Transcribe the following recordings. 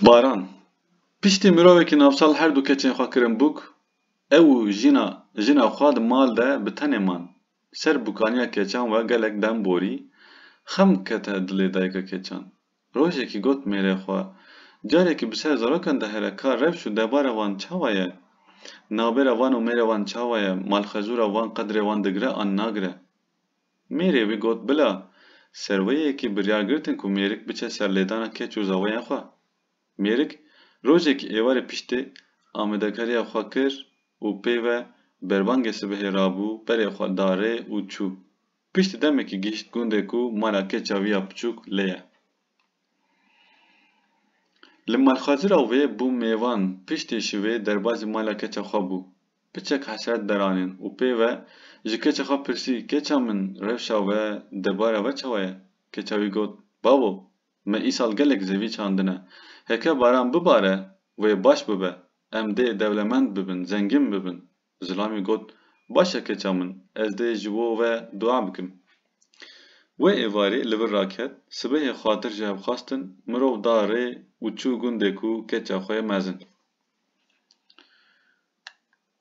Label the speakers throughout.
Speaker 1: Baran, Piştî mirovekî navçal her du keçên xwe kirin bûk, ew û jina jina xwe di mal de bi tenê man. Ser bûkaniya keçan we gelek dem borî, xem kete dilê dayika keçan. Rojekî got mêrê xwe, Carekî bi ser zarokan de here ka rewş û debara wan çawa ye? Nabêra wan û mêrê wan çawa ye? Malxezûra wan qedrê wan digire an nagire? Mêrê wî got, Bila, serweyekî biryar girtin ku mêrik biçe ser lêdana keç û zaweyên xwe. Mêrik rojekî êwarê piştê amadekariya xwe kir û pê ve berbangê sibehê rabû berê xwe da rê û çû. Piştî demekî gihîşt gundê ku mala keça wî ya piçûk lê ye. Li malxazira wê bû mêvan piştê şivê derbazî mala keça xwe bû. Piçek hesret deranên û pê ve ji keça xwe pirsî keça min rewşa we debara we çawa ye? Keça wî got, Bavo, me îsal gelek zevî çandine. Heke baran bibare wê baş bibe. Em dê dewlemend bibin, zengîn bibin. Zilamî got, Baş e keça min, ez dê ji bo ve dua bikim. Wê êvarê li vir raket, sibehê xwatir ji hev xwestin, mirov da rê û çû gundê ku keça xwe ye mezin.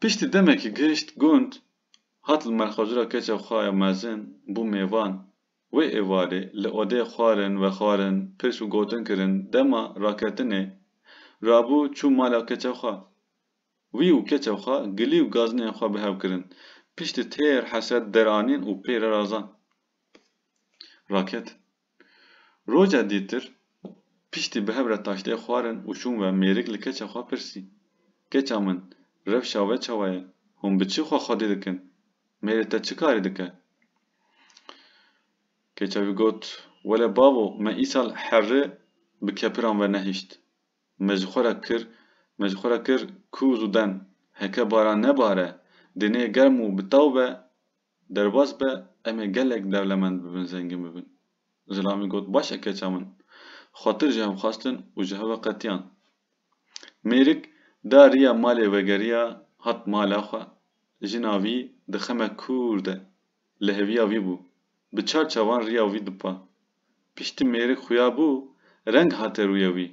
Speaker 1: Piştî demekî gihişt gund, hat li malxwecira keça xwe ya mezin, bû mêvan. Wê êvarê li odê xwarin vexwarin, pirs û gotin kirin, dema raketinê rabû çû mala keça xwe. Wî û keçe xwe gilî û gazinên xwe bi hev kirin. Piştî têr heset deranîn û pê re razan. Raketin. Roja dîtir piştî bi hev re taştê xwarin û çûn ve mêrik li keçe xwe pirsî, Keça min, rewşa we çawa ye? Hûn bi çi xwe xwedî dikin? Mêrê te çi karî dike? Keça wî got, Wele bavo, me îsal herri bi kepiran ve nehişt. Me ji xwe re kir, me ji xwe re kir ku zû den, heke baran nebare, dinê germ û bi taw be, derbas be, em ê gelek dewlemend bibin, zengin bibin. Zilamî got, Baş e keça min. Xwatir ji hev xwestin û ji hev ve qetiyan. Mêrik da riya malê vegeriya hat mala xwe. Jina vî di xeme kûr de li heviya vî bû. Bi çar çavan riya wî dipa. Piştî mêrê xuya bû, reng hate rûyê wî.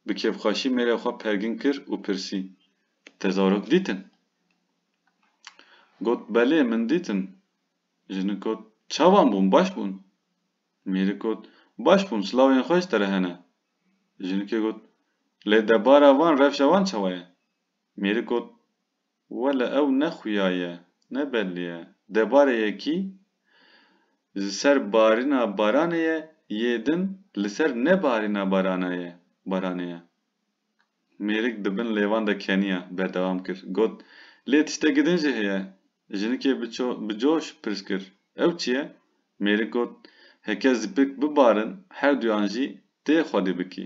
Speaker 1: Bi kêfxweşî mêrê xwe pergin kir û pirsî, Te zarok dîtin? Got, Belê, min dîtin. Jinik got, Çavan bûn, baş bûn? Mêrik got, Baş bûn, silavên xwe ji te re hene. Jinikê got, Lê debara van, revşa wan çawa ye? Mêrik got, Wele ew ne xuya ye, ne belli ye. Debare yekî ji ser barîna baranê ye, yê din li ser nebarîna barana ye, baranê ye. Mêrik di bin lêvan de keniya, berdewam kir, got, Lê tiştekî din jî heye. Jinikê biço bi coş pirs kir, Ew çi ye? Mêrik got, Heke zipik bibarin herduyan jî tê xwedî bikî.